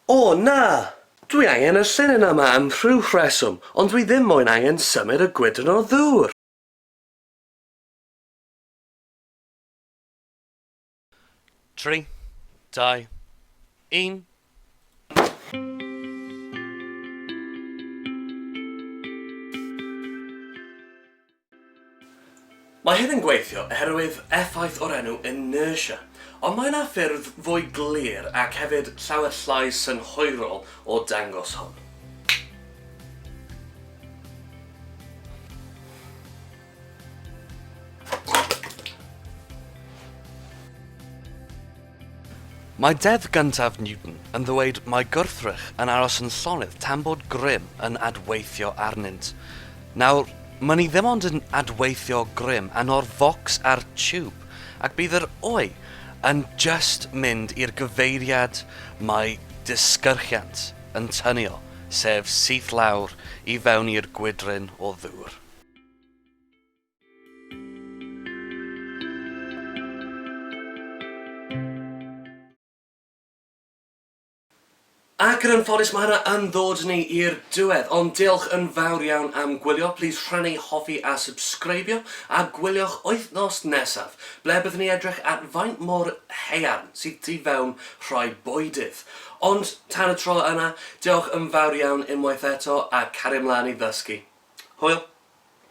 O, na! Dwi angen y llinyn yma am rhyw rheswm, ond dwi ddim moyn angen symud y gwydryn o ddŵr! Tri, dau, un. Mae hyn yn gweithio oherwydd effaith o'r enw inertia, ond mae yna ffyrdd fwy glir ac hefyd llawer llai synhwyrol o dangos hwn. Mae Deddf Gyntaf Newton yn ddweud mai gwrthrych yn aros yn llonydd tan bod grym yn adweithio arnynt. Nawr, ma' ni ddim ond yn adweithio grym ano'r focs a'r tiwb, ac bydd yr oe yn jyst mynd i'r gyfeiriad mae disgyrchiant yn tynnu o, sef syth lawr i fewn i'r gwydryn o ddŵr. Ac yn anffodus mae hynna yn ddod ni i'r diwedd, ond diolch yn fawr iawn am gwylio, plîs rhannu, hoffi a subscribio, a gwyliwch wythnos nesaf, ble byddwn ni edrych at faint mor haearn sydd tu fewn rhai bwydydd. Ond tan y tro yna, diolch yn fawr iawn unwaith eto, a cario mlaen i ddysgu. Hwyl!